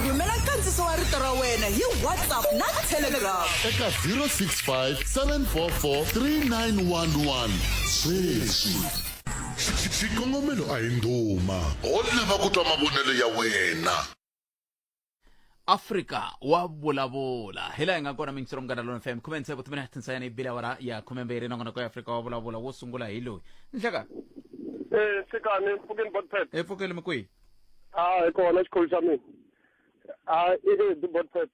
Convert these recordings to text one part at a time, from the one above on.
rhumela nkandziso wa rito ra wena hi whatsapp na telegram eka 065 744 3911 sweswi xikongomelo a hi ndhuma ho lava ku twa mavonelo ya wena afrika wa vulavula hi laha hi nga kona mingisiro munghana lona fm khume ntsevu timi na tinsayana yi bile awara ya khume mbirhi nakona ko ya afrika wa vulavula wo sungula hi loyi nhleka Eh, Sikani, Phukin Botpet. epfukeli mikwihi a hi kona xikhulu xa mina a i leti botpet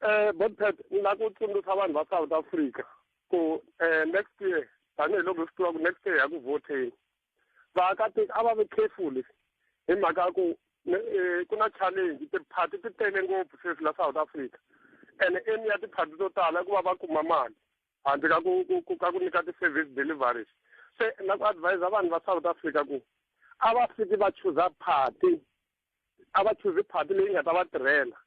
um botpet ni la ku tsundzuxa vanhu va south africa ku um next year tanihiloko hi swi tiva ku next year ya ku voteni vaakatiko a va ve careful hi mhaka ya ku eh, ku na challenge tiphati ti tele ngopfu sweswi la south africa and eni ya tiphati to tala ku va va kuma mali handle ka ku ku ku ka ku nyika ti-service deliveries se na ku advise vanhu va South Africa ku a va fiki va chuza party a va chuzi party leyi nga ta va tirhela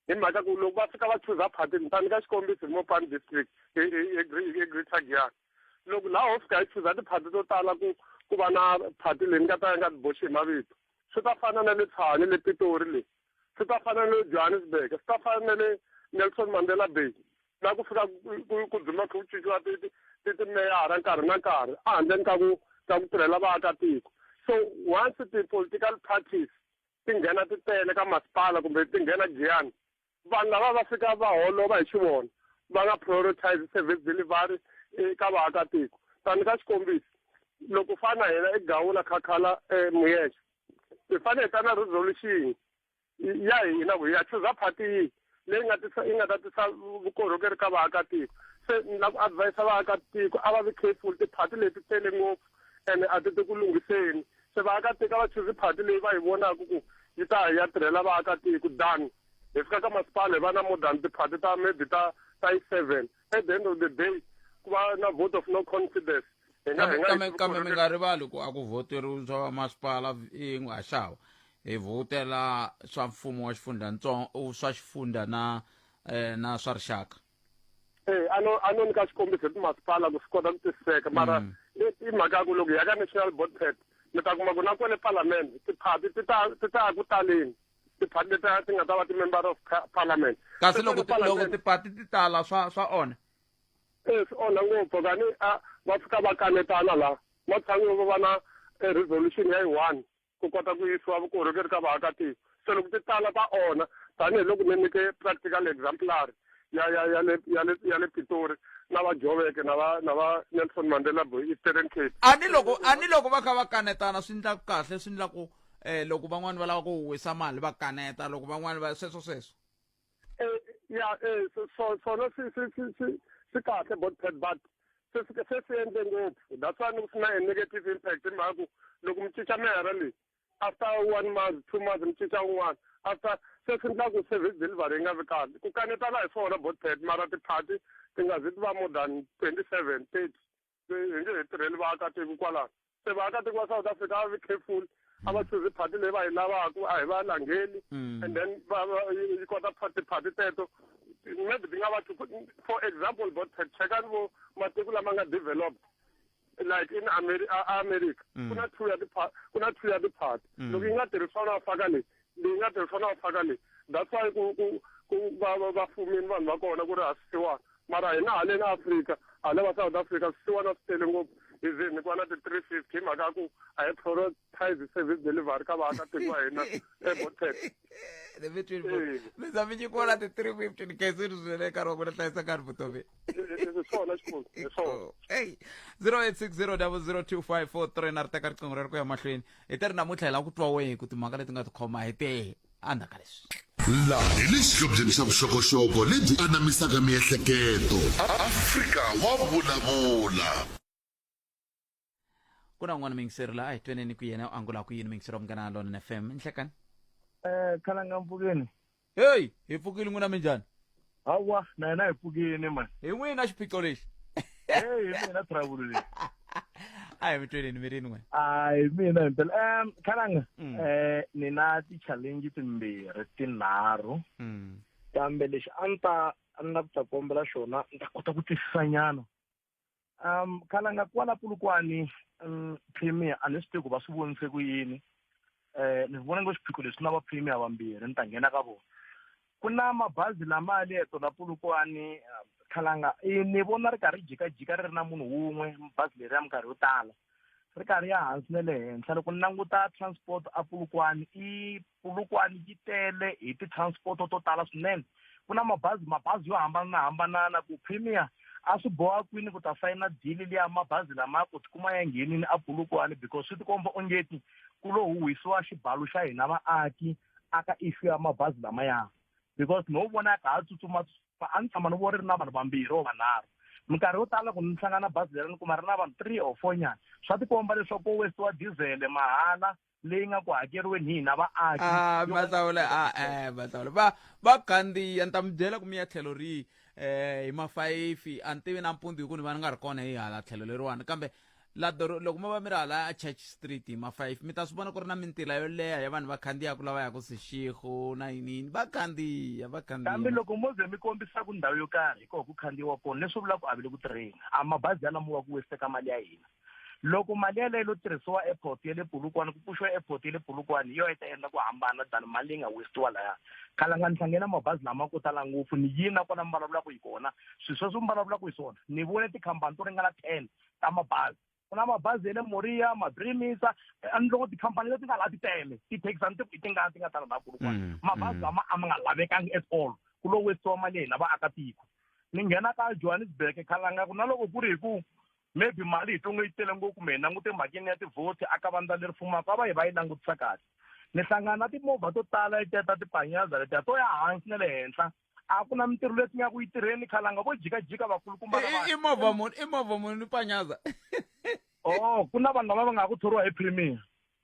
hi mhaka ku loko va fika va chuza party ni ta nyika xikombiso hi Mopani district e, e, e, e Greater Giyani loko laha ho fika hi chuza tiphati to tala ku ku va na phati leyi ni nga ta ya nga tiboxi hi mavito swi ta fana na le tshwane le pitori leyi swi ta fana ni le johannesburg swi ta fana na le nelson mandela bay na ku fika ku dzima kha ku cinciwa timeyara nkarhi na nkarhi a handleni ka ku ka ku tirhela vaakatiko so once ti-political parties ti nghena ti tele ka masipala kumbe ti nghena giyani vanhu lava va fika va holova hi xi vona va nga prioritize service delivery eka vaakatiko tani ka xikombiso loko fana hina egawula khakhala e muyexe hi fanele hi ta na resolution ya hina ku ya chuza party yihi leyi nga tisa yi nga ta tisa vukorhokeri ka vaakatiko se ni lava ku advise vaakatiko a va vi careful ti-party leti tele ngopfu ene a ti ti ku lunghiseni se vaakatiko a va chuzi party leyi va yi vonaka ku yi ta ya tirhela vaakatiko than hi fika ka masipala hi va na more than ti-party ta maybe ta ta yi seven at the end of the day ku va na vote of no confidence Hi nga- hi nga kambe yi- kambe mi nga rivali ku a ku voteriwi swa vamasipala yin'we ha xava hi vhotela swa mfumo wa xifundhantsongo swa xifundha na eh, na swa rixaka Eh, a no a no nyika xikombiso hi timasipala ku swi kota ku tiseka mara Mm. i- i mhaka ya ku loko hi ya ka national board pet mi ta kuma ku na kwale palamende tiphati ti ta ti ta ya ku taleni tiphati leti ta- ti nga ta va ti-member of pa- parliament kasi Ti loko tele ti- loko palamende. tipati ti tala swa swa onha E, swi onha ngopfu kani a va fika va kanetana la matshan'wini va va na e, resolution ya yi one ku kota ku yisiwa vukorhokeri ka vaakatiko se loko ti tala ta onha tanihiloko ni nyike practical exemplary ya ya ya le ya le ya le pitori na va joveke na va na va nelson mandela boy eastern cape a ni loko a ni loko va kha va kanetana swi ndlaku kahle swi ndlaku um loko van'wani va lava ku wisa mali va kaneta loko van'wani va sweswo sweswo Eh, ya eh, so- so- sona si- si- si- si- sikahle body pad but sesi- sesiyenze ngopfu that's why ni ku sina a negative impact hi mhaka ku loko mi cinca mihara leyi after one month two months mi cinca un'wana after se swi endla ku service delivery yi nga vi kahle ku kanetana hi swona body pad mara ti-party ti nga zi ti va more than twenty seven thirty hi nge hi tirheli vaakatiko kwalaho se vaakatiko va south africa a va vi careful a va chuzi phati leyi va yi lavaka a hi va langheli mm. and then yi kota phati phati teto maybe ti nga va for example bo chekani vo matiko lama nga developed like in Ameri america mm. ku na two ya ku na two ya tiphati mm. loko yi nga tirhi swona va faka leyi leyi nga tirhisa na phaka leyi that's why ku ku ku va va va fumini vanhu va kona ku ri ha swisiwana mara hina haleni afrika hala va south africa swisiwana swi tele ngopfu hi ze ni ku va na ti-three fifty hi mhaka ya ku a hi prioritize service delivery ka vaakatiko wa hina ebotet let me tell you mi za mi nyikiwa na ti-three fifty ni khaisini swinene nkarhi wa ku na hlayisa nkarhi vutomi hi swona xikulu hi swona eyi zero eight six zero double zero two five four three na ri teka riqingho rero ku ya mahlweni hi te ri namuntlha hi lava ku twa wehe ku timhaka leti nga tikhoma hi te andzhaka leswi laha hi le xihlobyeni xa vuxokoxoko lebyi anamisaka miehleketo afrika wa vulavula ku na un'wana mingiseri la a hi tweneni ku yena u angula ku yini mingiseri wa munghana lona fm nhlekani um eh, khalanga mpfukeni heyi hi pfukile n'wina minjhani hawa na hina hi pfukini mani hi n'wina xiphiqo lexi heyi hi mina travulo leyi a hi mi tweleni mi rini n'we a hi mina himpela um khalanga Mm. um ni na ti-challenge timbirhi tinharhu Mm. kambe lexi a ni ta a ni lava ku ta kombela xona ni ta kota ku twisisanyana um khalanga kwala pulukwani um premier a ni swi tivi ku va swi vonise ku yini um ni vona ngo swiphiqo leswi na va premier vambirhi ni ta nghena ka vona ku na mabazi lama ya leto la pulukwani um, khalanga e, ni vona ri karhi jikajika ri ri na munhu wun'we bazi leri ya minkarhi yo tala ri karhi ya hansi na le henhla loko ni languta transport a pulukwani i Polokwane yi tele hi ti-transport to tala swinene ku na mabazi mabazi yo hambananahambanana ku premier a swi boha kwini ku ta sayina dili liya mabazi lama ku tikuma ya nghenini a Polokwane because swi tikomba ongeti ku lo huhisiwa xibalo xa hina vaaki aka issue ya mabazi lamaya because no vona ya ka ha tsutsuma a ni tshama ni vo ri ri na vanhu vambirhi or vanharhu minkarhi yo tala ku ni hlangana bazi leri ni kuma ri na vanhu three or four nyana swa tikomba leswaku ko westiwa dizele mahala leyi nga ku hakeriweni hi hina vaaki ah, mahlawule ah, eh, mahlawule va va gandiya ni ta mi byela ku mi ya tlhelo rihi um hi mafayifi a ni tivi na mpundzu hi ku ni va ni nga ri kona hi hala tlhelo leriwani kambe ladoro loko mi va mi ri hala a church street hi mafayifi mi ta swi vona ku ri na mintila yo leha ya vanhu va khandiyaku lava yaku sixixo na yiniyini va khandiya va khandiyakambe loko mo ze mi kombisaka ndhawu yo karhi hi koho ku khandiyiwa kona leswi vula ku a vi le ku tirheni a mabazi yalamowa ku wesiteka mali ya hina loko mali yaleyo lo tirhisiwa airport ya le pulukwana ku pfuxiwa airport ya le pulukwana yo yi ta endla ku hambana than mali leyi nga westiwa laya khalanga ni hlangene mabazi lama ko tala ngopfu ni yini na kona mi vulavulaka hi kona swilo sweswo mi vulavulaka hi swona ni vone tikhampani to ringana ten ta mabazi ku na mabazi ya le moria mabrimisa eh, ni loko tikhampani leti nga laha ti tele tithekisani ti ti nga ti nga tala laha pulukwana mm, mabazi mm. lama a ma nga lavekangi at all ku lo westiwa mali ya hina vaakatiko ni nghena ka johannesburg khalanga ku na loko ku ri hi ku maybe mali hi tonge yi tele ngopfu kumbe hi langute mhakeni ya tivhoti aka vandla leri fumaka a va hi va yi langutisa kahle ni hlangana na timovha to tala yi teta tipanyaza letiya to ya hansi na le henhla a ku na mintirho leti nga ku yi tirheni khalanga vo jikajika vakulukumba i movha muni i movha muni ni panyaza o oh, ku na vanhu lava va nga ku thoriwa hi premier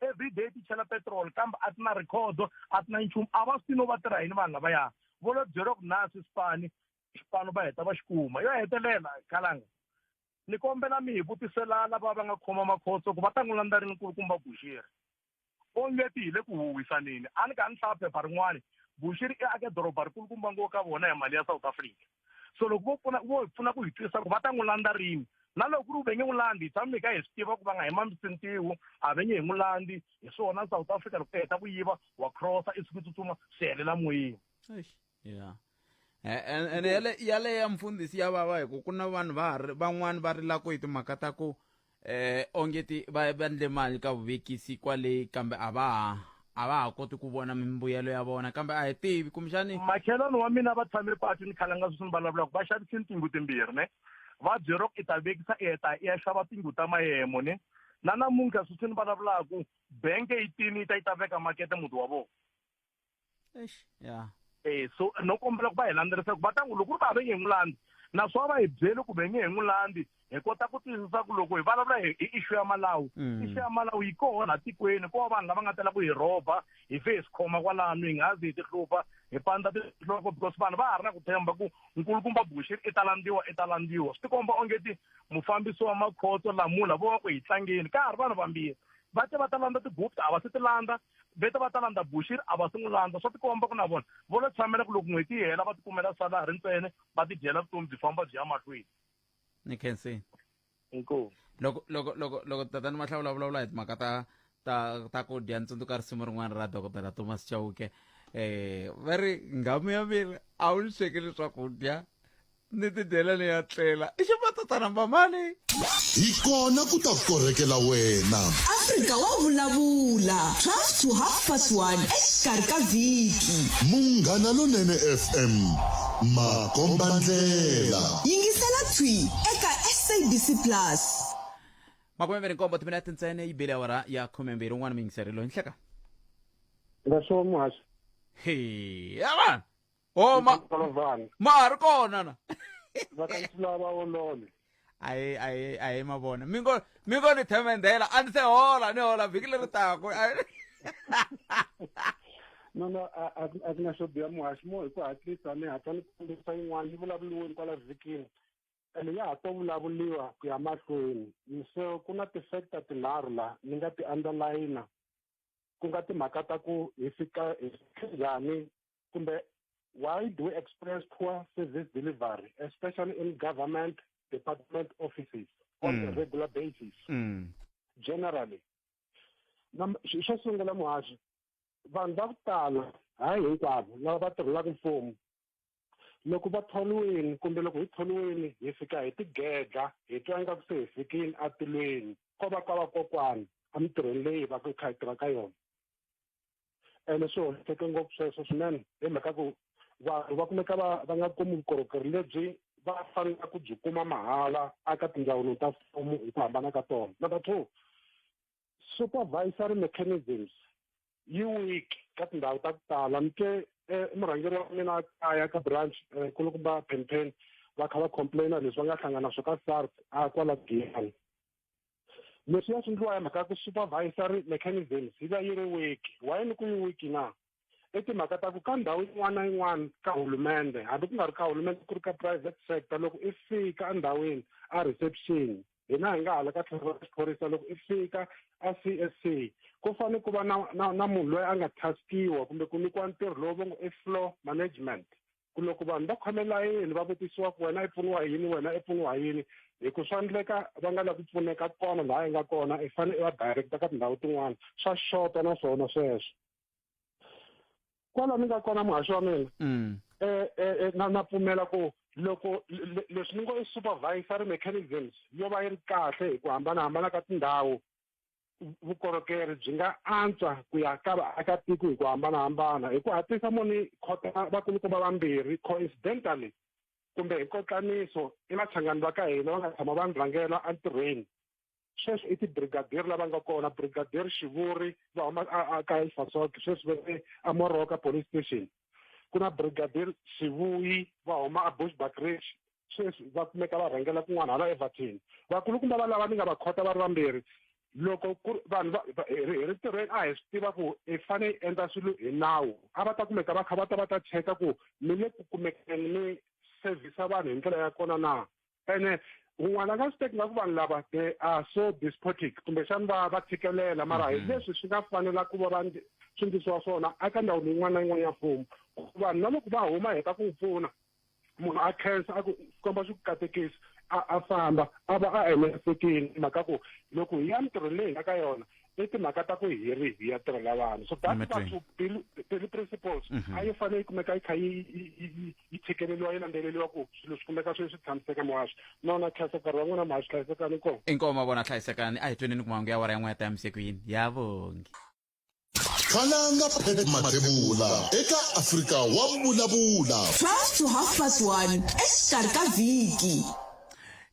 every day ti chela petrol kambe a ti na record a ti na nchumu a va swi no va tirha yini vanhu lavaya vo lo byeriwa ku na swi sipani xipano va heta va xi kuma yo hetelela kalanga ni kombela mi hi vutisela lava va nga khoma makhotso ku va ta n'wi landza rini nkulukumba buxiri onge ti hi le ku huwisaneni a ni ka ni hlaya phepha rin'wana buxiri i ake doroba rikulukumba ngo ka vona hi mali ya south africa so loko vo pfuna vo hi pfuna ku hi twisisa ku va ta n'wi landza rini na loko ku ri venge n'wi landzi hi tshami hi ka hi swi tiva ku va nga hi mamisintiwu a venye hi n'wi landzi hi swona south africa loko u heta ku yiva wa crossa i siku tsutsuma swi helela moyeni yeah and yale yale ya mfundhisi ya vava hi ku ku na vanhu va van'wani va rilaka hi timhaka ta ku eh ongeti va va ndle mali ka vuvekisi kwale kambe a va ha a va ha koti ku vona mimbuyelo ya vona kambe a hi tivi kumbexani machelani wa mina va tshame patu ni khale nga sweswi ni vulavulaka va xavise ni tingu timbirhi ne va byero i ta vekisa i heta i ya xava tingu ta mayemo ne na namuntlha sweswi ni vulavulaka benke yi tini yi ta yi ta veka makete muti wa vona ya eh so no kombela ku va hi landzerisaka va ta n'wi loko ri va va nge n'wi landzi naswona va hi byele kumbe nge hi n'wi landzi hi kota ku tiyisisa ku loko hi vulavula hi issue ya malawu mm. issue ya malawu yi koho laha tikweni ko va vanhu lava nga tela ku hi rhoba hi fe hi swi khoma kwalano hi nga zi hi ti hlupha hi pandza tinhloko because vanhu va ha ri na ku tshemba ku nkulukumba buxiri i ta landziwa i ta landziwa swi tikomba onge ti mufambisi wa makhotso lamula vo va ku hi tlangeni ka ha ri vanhu vambirhi va te va ta landza ti-gupta a va se ti landza vete va ta landza bushiri a va si n'wi landza swa tikomba ku na vona vo lo tshamela ku loko n'hweti yi hela va tikumela salari ntsene va tidyela vutomi byi famba byi ya mahlweni ni khenseni inkomu loko loko loko loko tatani mahlawula vulavula hi timhaka ta ta ta ku dya ntsundzuka risimu rin'wana ra dokodela thomas chauke um va ri ngamu ya mina a wu ni swekeli swakudya ni tidyela ni ya tlela i ximatatana mbamani hi kona ku ta korhekela wena afrika wa vulavula 12 to half past 1 exikarhi ka vhiki munghana lonene fm makombandlela yingisela thwi eka sabc plus makumembirhi nkombo timinete ntsene yi bile awara ya khumembirhi un'wana miyingiseri loyi nhleka nga swo muhasho he avana o ma Kolozana. ma ha ri kona na Va ka Ntula va olole. ayi ayi ayi ma vona mi ngo mi ngo ni themendhela a ni se hola ni hola vhiki leri taku Ayi. No no a a a ku na xo biha muhaxi mo hi ku hatlisa ni hatla ni kombisa yin'wana yi vulavuliweni kwala vhikini. Ene ya ha to vulavuliwa ku ya mahlweni. So ku na ti-factor tinharhu la ni nga ti underline ku nga timhaka ta ku hi fika hi njhani kumbe why do we experience poor service delivery especially in government department offices on mm. a regular basis mm. generally xo sungula muhaxi vanhu va ku tala hayi hinkwavo lava va tirhelaka mfumo loko va tholiwini kumbe loko hi tholiwini hi fika hi tigedla hi twa ingaku se hi fikile atilweni ko va ka vakokwana emintirhweni leyi va ku hi kha hi tirha ka yona ene swi hoxeke ngopfu sweswo swinene hi mhaka ku vanhu va kumeka va va nga kumi vukorhokeri lebyi va fanelaka ku byi kuma mahala aka tindzawulo ta mfumo hi ku hambana ka tona number two supervisory mechanisms yi weak ka tindhawu ta ku tala ni te eh, murhangeri wa mina kaya ka branch eh, kulukumba penpen va kha va complaina leswi va nga hlangana swo ka sars a kwala giyani leswi ya swi ndliwa ya mhaka ya ku supervisory mechanisms yi va yi ri wiki why ni ku yi wiki na i timhaka ta ku ka ndhawu yin'wana na yin'wana ka hulumende hambi ku nga ri ka hulumende ku ri ka private sector loko i fika endhawini a reception hina hi nga hala ka tlhelo ra xiphorisa loko i fika a c s c ku fanele ku va na na na munhu loyi a nga taskiwa kumbe ku nyikiwa ntirho lowu va ngo i floor management ku loko vanhu va khome layeni va vutisiwa ku wena i pfuniwa hi yini wena i pfuniwa hi yini hi ku swa endleka va nga lavi ku pfuneka kona laha yi nga kona i fanele i va directa ka tindhawu tin'wana swa xota na swona sweswo kwala ni nga kona muhaxi wa mina um na na pfumela ku loko leswi ni ngo i supervisory mechanisms yo va yi ri kahle hi ku hambanahambana ka tindhawu vukorhokeri byi nga antswa ku ya ka vaakatiko hi ku hambanahambana hi ku hatlisa moni khota vakulukumba vambirhi coincidentally kumbe hi kotlaniso i vachangani va ka hina va nga tshama va ni rhangela entirhweni sweswi i tibrigadier lava nga kona brigadier xivuri va huma ka isasok sweswi ve amoroka police station ku na brigadier xivuyi va huma a bushbackridge sweswi va kumeka va rhangela kun'wana hala evatini vakulukumba va lava ni nga va khota va ri vambirhi loko ku ri vanhu va hi ri tirhweni a hi swi tiva ku i fane yi endla swilo hi nawu a va ta kumeka va kha va ta va ta cheka ku mi le ku kumekeni mi sevhisa vanhu hi ndlela ya kona na ene un'wana a nga swi teki nga ku vanhu lava they are so despotic kumbexani va va tshikelela mara hi mhm. leswi swi nga fanela ku va va swi ndlisiwa swona eka ndhawu leyin'wana na yin'wana ya mfumo ku vanhu na loko va huma hi ta ku pfuna munhu a khensa a ku komba swi ku katekisi a a famba a va a enerisekile hi mhaka ku loko hi ya mintirhweni leyi hi nga ka yona i timhaka ta ku hi ri hi ya tirhela vanhu so that Amen. two daily- daily principles Mhm. a yi fanele yi kumeka yi kha yi yi- yi- yi- yi tshikeleliwa yi landzeleliwa ku swilo swi kumeka swi swi tshamiseka muhaxi nona khasa nkarhi wa n'wina muhaxi hlayisekani kona inkomo vona hlayisekani a hi tweni ni ku mahungu ya wara yan'we ya ta yamisekwini ya vongi khalanga phephe mathebula eka afrika wa vulavula 12 to half past 1 exikarhi ka vhiki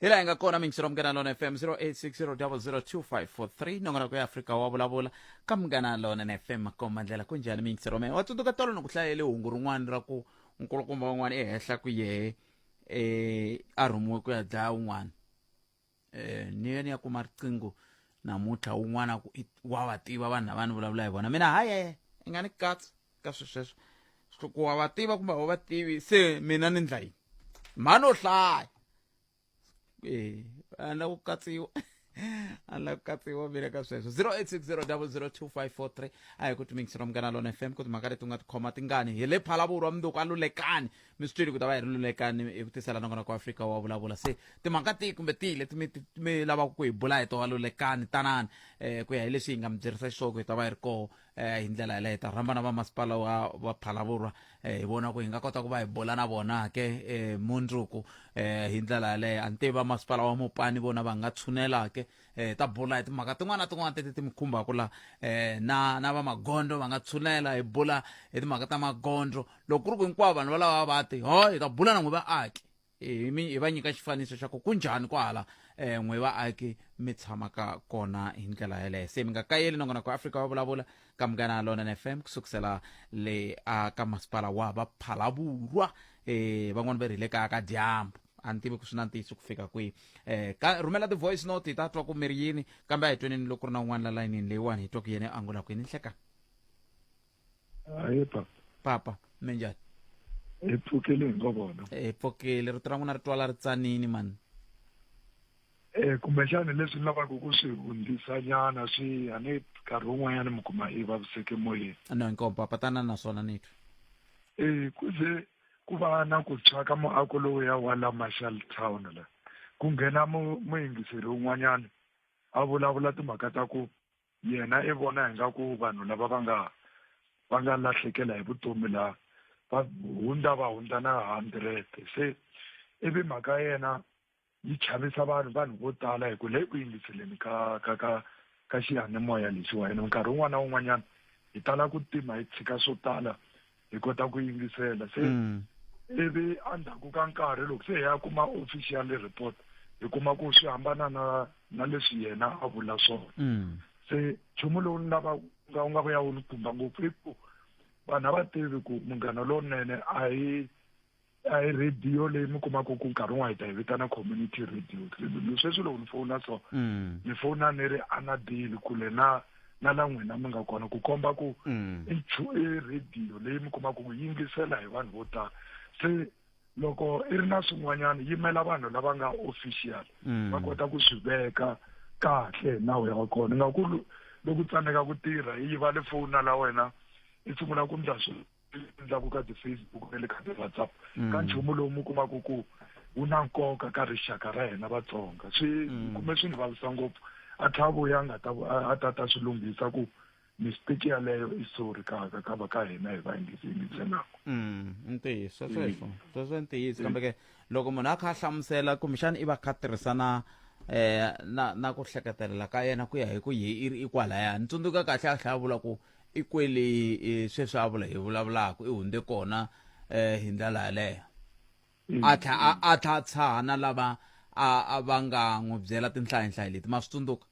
hi laha hi nga kona mingisiro munghana lona fm 0860002543 nongonoko ya afrika wa vulavula ka munghana lona na fm makomba ndlela ku njhani mingisiro mina wa tsundzuka tolo ni ku hlayele hungu rin'wana ra ku nkulukumba wun'wana ehenhla ku yehe um a rhumiwe ku ya dlaya wun'wana eh, ni yena ya kuma riqingho namuntlha un'wana ku i- wa va tiva vanhu lava ni vulavula hi vona mina haye i nga ni katsi ka swi sweswo Swi ku wa va tiva kumbe a wu va tivi se mina ni ndla yini mhani u hlaya Eh, a ni la ku katsiwa a ni la ku katsiwa mina ka sweswo 0860002543 a hi ku tumingisira munghana lona fm ku timhaka leti u nga tikhoma tingani hi le phalaburu wa mundzuku a lulekani mi swi twile ku ta va hi ri lulekani hi ku tisela nongonoko ku afrika wa vulavula se timhaka tihi kumbe tihi leti mi mi lavaka ku hi bula hi tona lulekani tanani um ku ya hi leswi hi nga mi byerisa xisoko hi ta va hi ri koho um eh, hi ndlela yeleyo hi ta rhamba na vamasipala wa va phalavurwa um hi vona ku hi nga kota ku va hi bula na vona ke um mundzuku um hi ndlela yeleyo a ni tivi vamasipala wa mopani vona va nga tshunela ke eh, ta bula hi timhaka tin'wana na tin'wana teti ti mi khumbaka la eh, na na va magondo va nga tshulela hi bula hi timhaka ta magondo loko ku ri ku hinkwavo vanhu valava va ti ho hi ta bula na n'wi vaaki hi mi hi va nyika xifaniso xa ku ku njhani kwahala eh, n'wi vaaki mi tshamaka kona hi ndlela yeleyo se mi nga kayeli nongonoko ya afrika va vulavula ka munghana ya lona fm kusukusela le a ka masipala wa vaphalavurwa eh, van'wani va ri hi le kaya ka dyambu a ni tivi ku swi na ntiyiso ku fika kwihi um ka rhumela ti-voice note hi ta twa ku mi ri yini kambe a hi tweneni loko ri na un'wana la layinini leyiwani hi twa ku yene a ngula kwini nhlekani hayi papa papa mi njhani hi pfukile hi ngo vona hi pfukile rito ra n'wina ri twala ri tsanini mani um kumbexani leswi ni lavaka ku swi hundzisa nyana swi a ni nkarhi wun'wanyana mi kuma i vaviseke moyeni no inkomo papa tanani naswona ni twa um ku ze ku va na ku tshwa ka muako lowuya wa la marshall town la ku nghena mu- muyingiseri un'wanyana a vulavula timhaka ta ku yena i vona ingaku vanhu lava va nga va nga lahlekela hi vutomi la va hundza va hundza na hundred se ivi mhaka yena yi chavisa vanhu vanhu vo tala hi ku le ku yingiseleni ka ka ka ka xiyanimoya lexiwa ene nkarhi wun'wana na wun'wanyana hi tala ku tima hi tshika swo tala hi kota ku yingisela se mm. ivi endzhaku ka nkarhi loko se hi ya kuma official report hi kuma ku swi hambana na na leswi yena a vula swona mm. se nchumu lowu ni lava nga u nga ku ya wu ni khumba ngopfu i ku vanhu a va tivi ku munghana lowunene a hi a hi radio leyi mi kumaka ku nkarhi wun'wana hi ta yi vitana community radio sweswi loko ni fona so mm. ni fona ni ri anadile kule na na la n'wina mi nga kona ku komba ku mm. i radio leyi mi kumaka ku yingisela hi vanhu vo tala se loko i ri na swin'wanyana yimela vanhu lava nga official mm. va kota ku swi veka kahle nawu ya kona nga ku loko tsandzeka ku tirha yi va le foni la wena i sungula ku ndla swilo endlaku ka ti-facebook na le ka ti-whatsapp ka mm. nchumu lowu mi kumaka ku wu na nkoka ka rixaka ra hina vatsonga swi mm. kume swi ni vavisa ngopfu a tlha a vuya a nga ta a ta ta swi lunghisa ku mistake yaleyo i sorry ka ka ka va ka hina hi va yingisi yingiselaka mm, i ntiyiso sweswo sweswo i ntiyiso kambe ke loko munhu a kha a hlamusela kumbexana i va kha tirhisana eh na na ku hleketelela ka yena ku ya hi ku yi i ri i kwalaya ni tsundzuka kahle a tlhela a vula ku i kweli sweswi a vula hi vulavulaka i hundze kona um hi ndlela yaleyo mm. a tlha a tlha a tshaha na lava a va nga n'wi byela tinhlayihlayi leti ma swi tsundzuka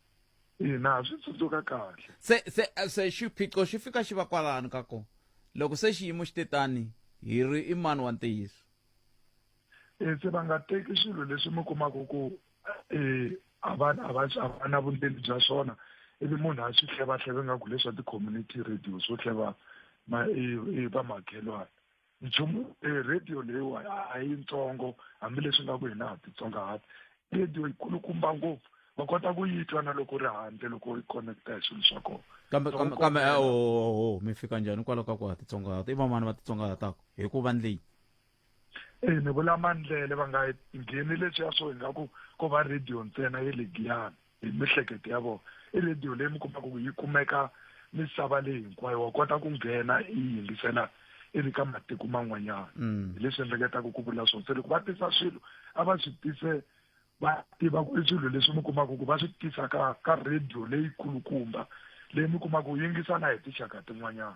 ina swi tsundzuka kahle se se se xiphiqo xi fika xi va kwalano ka kona loko se xiyimo xi te tani hi ri i mani wa ntiyiso e se va nga teki swilo leswi mi kumaka ku eh, a va a va a va na vundzeni bya swona ivi munhu a swi hlevahleva ingaku leswa ti-community radio swo hleva ma vamakhelwana nchumu eh, radio leyiwa a yi ntsongo hambileswi nga ku hina ha titsonga hati radio yi kulukumba ngopfu va kota ku yi twa na loko ri handle loko yi connecta hi swilo swa kona kambe kambe kambe oho mi fika njhani hikwalaho ka ku ha titsongahata i vamani va titsongahataka hi ku vandleni e ni vula mandlele va nga ngheni leswiya swo ingaku ko va radio ntsena ye le giyani hi mihleketo ya vona i radio leyi mi kumaka ku yi kumeka misava leyi hinkwayo wa kota ku nghena yi yingisela i ri ka matiko man'wanyana mm. hi leswi endleketaka ku vula swona se loko va tisa swilo a va swi tise va tiva ku i swilo leswi mi kumaka ku va swi tisa ka ka radio leyi kulukumba leyi mi kumaka ku yingisa na hi tinxaka tin'wanyana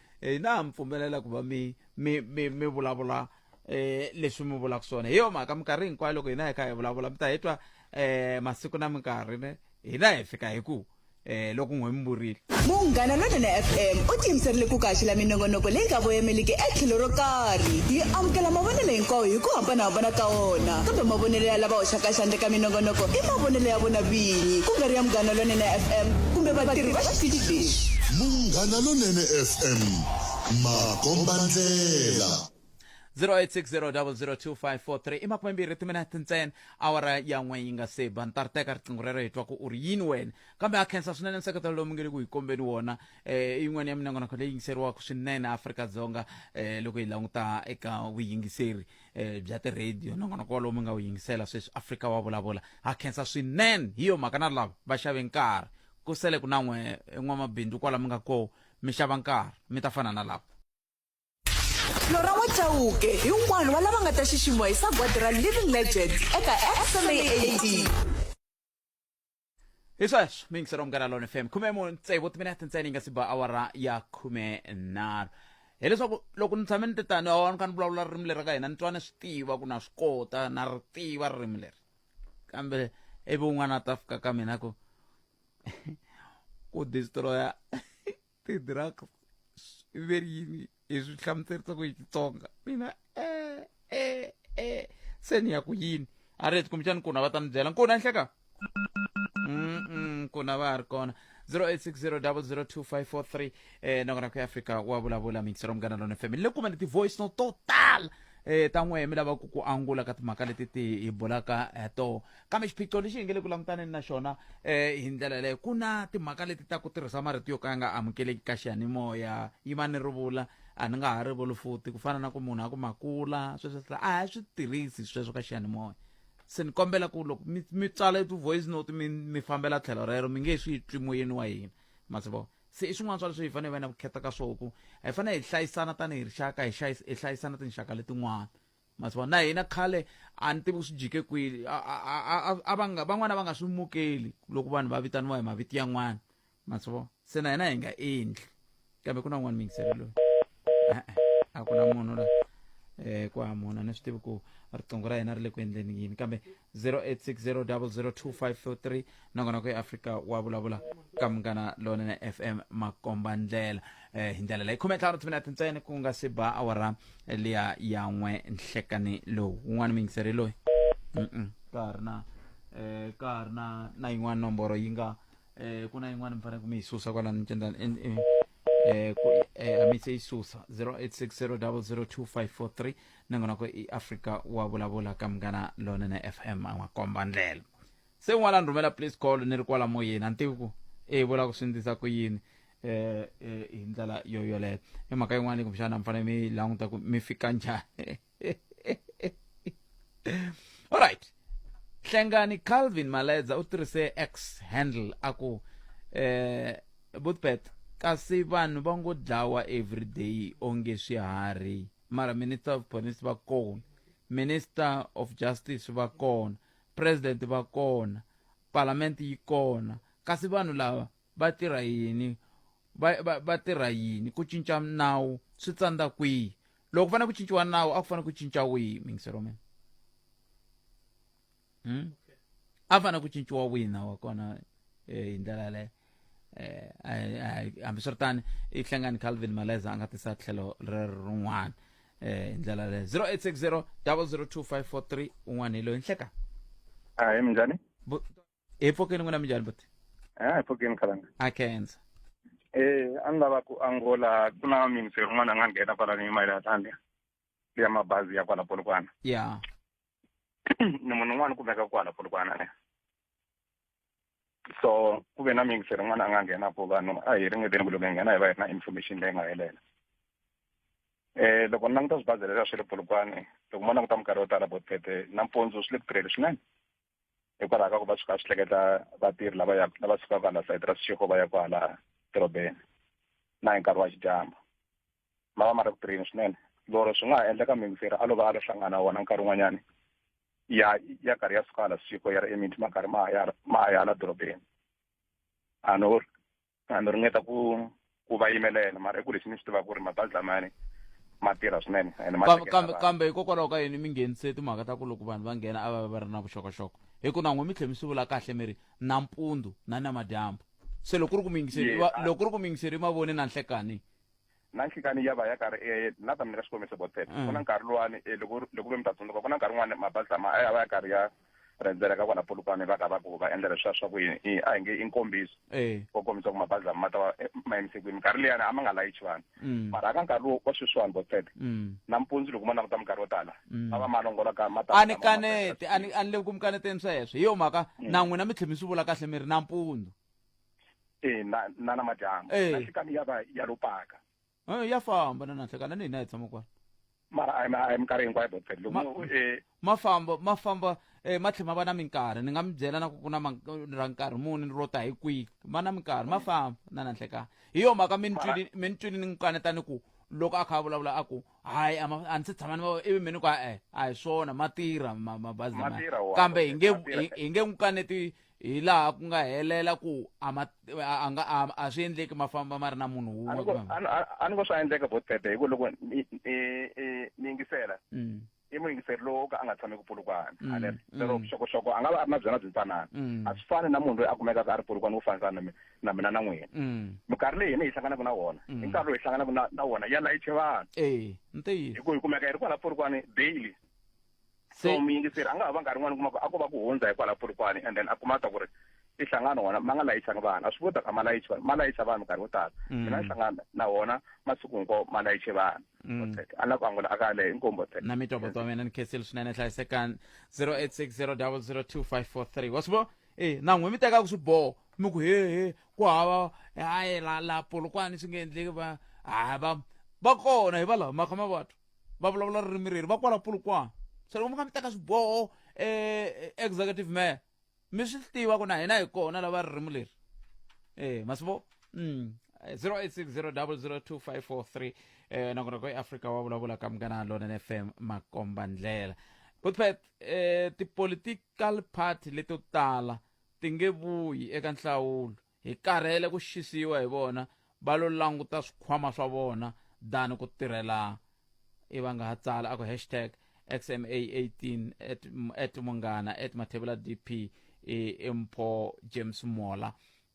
e na ha mi pfumelela ku va mi mi mi mi vulavula um leswi mi vulaka swona hi yo mhaka minkarhi hinkwayo loko hina hi kha hi vulavula mi ta hi twa um masiku na minkarhi ne hina hi fika hi ku um loko n'we mi vurile munghana lonene fm u tiyimiserile ku kaxela minongonoko leyi nga voyameliki etlhelo ro karhi yi amukela mavonelo hinkwawo hi ku hambanahambana ka wona kambe mavonelo ya lava hoxaka xandla ka minongonoko i mavonelo ya vona vinyi ku nga ri ya munghana lonene fm kumbe vatirhi va xitichi lexi na Lonene FM makombandlela 0860 i makume mbirhi timinete ntsena awara ya n'we yi nga se ba ni ta ri teka riqingho rero hi twa ku u ri yini wena kambe ha khensa swinene nseketelo lowu mi nge le ku hi kombeni wona um i yin'wana ya minongonoko leyi yingiseriwaka swinene afrika-dzonga um loko hi languta eka vuyingiseri um bya tirhediyo nongonoko walowu mi nga wu yingisela sweswi afrika wa vulavula ha khensa swinene hi yo mhaka na lava va xave nkarhi Ku sele ku na n'we n'wamabindzu kwala mi nga koo, mi xava nkarhi, mi ta fana na lava. Flora N'we Chauke hi un'wana wa lava nga ta xiximiwa hi sagwadi ra Living Legends eka SMAAD. Hi sweswo mi yingisela Munghana Lone FM khume mu tsevu timinete ntsena yi nga si ba awara ya khume nharhu hileswaku loko ni tshame ni te tani awa ni kha ni vulavula ririmi leri ra ka hina ni twa ni swi tiva ku na swi kota na ri tiva ririmi leri kambe ivi un'wana a ta fika ka mina ku ku destroya ti-drugs i ve ri yini hi swi hlamuserisa ku hi xitsonga mina e e e se ni ya ku yini a ri heti kumbexani kuna va ta ni byela nkuna nhleka kuna va ha ri kona 0860 002 543 eh noko nako ya afrika wa vulavula mingisero munghana lona fm ni le kumeni ti-voice no to tala eh ta n'wehe mi lavaka ku angula ka timhaka leti ti hi bulaka eh, to kambe xiphiqo lexi hi nge le ku langutaneni na xona eh hi ndlela yaleyo ku na timhaka leti ta ku tirhisa marito yo ka ya nga amukeleki ka xiyanimoya yi va ni rivula a ni nga ha rivuli futi ku fana na ku munhu a ku makula sweswo swi a hi swi tirhisi sweswo ka xiyanimoya se ni kombela ku loko mi mi tsala ti-voice note mi mi fambela tlhelo rero mi nge swi twi moyeni wa hina ma swi vona se i swin'wana swa leswi hi fanele hi va na vukheta ka swo ku hi fanele hi hlayisana tanihi rixaka hi hi hlayisana tinxaka letin'wana masiva na hina khale a ni tivi ku swi jike kwini van'wana va nga swi mukeli loko vanhu va vitaniwa hi maviti yan'wana masivo se na hina hi nga endli kambe ku na un'wana mingiselo loyi e-e a ku na munhu la um ku hamona ni swi tivi ku riqingho ra hina ri le ku endleni yini kambe 0860002543 nongonoko ya afrika wa vulavula ka munghana lonene fm makomba ndlela eh, hi ndlela leyi khume ntlhanu timinete ntsena ku nga si ba awara liya ya n'we nhlekani lowu wun'wana muyingiseri loyi Mm-mm. ka ha ri na eh, ka ha ri na na yin'wana nomboro yi nga eh, ku na yin'wana mi fanele ku mi yi susa kwalani ncendani en- en- eh, ku- eh, a mi se yi susa 0860002543 nongonoko i africa wa vulavula ka munghana lonene fm a n'wi komba ndlela se un'wana ni rhumela please call ni ri kwala moyeni a ni tivi ku e yi vula ku swi ndzisa ku yini eh, eh, hi ndlela yo yoleyo i mhaka yin'wana kumbexana mi fanele mi languta ku mi fika njhani alright hlengani calvin maledza u tirhise x handle a ku eh butbet kasi vanhu va ngo dlawa everyday onge swiharhi mara minister of police va kona minister of justice va kona president va kona parliament yi kona kasi vanhu lava va tirha yini va va va tirha yini ku cinca nawu swi tsandza kwihi loko ku fanele ku cinciwa nawu a ku fanele ku cinca wihi mingiselo mina hmm? a fana ku cinciwa wina wa kona eh, hi ndlela leyo eh, ai- ai- hambiswiritani i hlengani calvin maleza a nga tisa tlhelo rero rin'wana eh, hi ndlela leyo 0860 002543 un'wana hi loyi nhleka Ah, hi minjhani? Bu- hi pfokeni n'wina minjhani buti Ah, hi pfukeni khalanga. a kenza Eh, a ni lava ku angola ku na ministry rin'wana a nga nghena kwala ni mayelana thandle. ya mabazi ya kwala polokwana ya ni munhu un'wana kumeka kwala polokwana ne so ku ve na mingise rin'wana a nga nghena po vanhu a hi ringeteni ku loko hi nghena hi va hi ri na information leyi nga helela eh loko ni languta swibazi leswi a swi ri polokwane loko mo languta minkarhi yo tala bo tete nampundzu swi le ku tirheli swinene hikwalaho ka ku va suka swi hleketa vatirhi lava ya lava sukaka hala sayiti ra sixiko va ya kwala dorobeni na hi nkarhi wa xidyambu ma va ma ri ku tirheni swinene loro swi nga ha endleka mingiseri a lova a lo hlangana wona nkarhi wun'wanyani ya ya karhi ya suka la siku ya ri eminti ma karhi ma ya ma ya la dorobeni a no a no ringeta ku ku va yimelela mara i ku lexi ni xi tivaka ku ri mabazi lamani ma tirha swinene ene ma kambe kambe kambe hikokwalaho ka yini mi nghenise timhaka ta ku loko vanhu va nghena a va va ri na vuxokoxoko hi ku na n'we mi tlhe mi swi vula kahle mi ri nampundzu na namadyambu se loko ku ri ku mi yingiseri loko ku ri ku mi yingiseri mavoni na nhlekani na nhlikani ya va ya karhi e na ta mi nyika xikombiso botsep mm. ku na nkarhi lowani e loko loko ve mi ta tsundzuka ku na nkarhi wun'wani mabazi lama a ya va ya karhi ya rendzela ka kwala polukwane va ka va ku va endla leswiya swa ku yini a hi nge i nkombiso eh. wo kombisa ku mabazi lama ma ta va e, ma yimise kwini minkarhi leyani a ma nga layichi vanhu mm. mara aka nkarhi lowu wa sweswiwani botsep mm. nampundzu loko ma languta minkarhi yo tala a va ma longola ka ma a ni kanete a ni le ku mi kaneteni sweswo hi yo mhaka na n'wina mi tlhe mi swi vula kahle mi ri nampundzu e na na namadyambu Eh. na xikani ya va ya lo paka Eh, ya famba na nanhlekani na ni hina hi tshama kwala mara a hi ma- a hi minkarhi hinkwayo botfel Ma- loko eh, ma famba ma famba eh, ma tlhela ma va na minkarhi ni nga mi byela na ku ku na man- ra nkarhi muni ro ta hi kwihi ma na minkarhi ma famba na nanhlekani hi yo mhaka mi ni twile- mi ni twile ni n'wi kaneta ni ku loko a kha a vulavula a ku hayi a ma- a ni se tshama ni va ivi mi ni ku e a hi swona ma tirha ma- mabazi Ma lamaya." tirha wona, kambe hi nge ma tirha. hi- hi nge n'wi kaneti hi laha ku nga helela ku a ma a nga a, a swi endleki ma famba ma ri na munhu wun'we a kumbe- ni- a- a ni ngo swa endleka bo tete hi ku loko mi- i- i- mi yingisela Mm, i muyingiseri lowo ka a nga tshami ku pulukwana Mm, ale lero mm. vuxokoxoko a nga va a ri na byona byi ntsanana Mm. a swi fani na munhu loyi a kumekaka a ri pulukwana wo fanisana na mi- na mina na n'wina mm, minkarhi leyi hina hi hlanganaka na wona Mm. i nkarhi lowu hi hlanganaka na- na wona ya layiche vanhu eh ntiyiso hi ku hi kumeka hi ri kwala pulukwane daily so Se- muyingiseri a nga ha va nkarhi n'wana kuma ku a ko va ku hundza hikwalaho purikwani and then a kuma ta ku ri i hlangano wona ma nga layichanga vanhu a swi kota ku a ma layichi vanhu ma layicha vanhu nkarhi wo tala Mm. mina ni hlangana na wona masiku hinkwawo ma layiche vanhu Mm. Botsek. a na ku angula a ka lehe inkomu botsek na mitoboto wa mina ni khensile swinene hlayisekani 0860002543 wa swi vona e na n'we mi tekaka swiboho mi ku hehe ku hava hayi la la polokwani swi nge endleki va ha va va kona hi valava makha mavatu va vulavula ririmi reri va kwala pulukwana so loko mi nga mi teka swiboho um executive mayor mi swi tiva ku na hina hi kona lava ririmi leri um masivo um 0860002543 eh nakona ko eAfrika wa vulavula ka mngana lona ne FM makomba ndlela kutphet eh ti political party leto tala tinge vuyi eka nhlawulo Hi karhele ku xisiwa hi vona, va lo languta swikhwama swa vona than ku tirhela i va nga ha tsala a ku hashtag xma 18 at, at munghana at mathevela dp e, e mpho james mola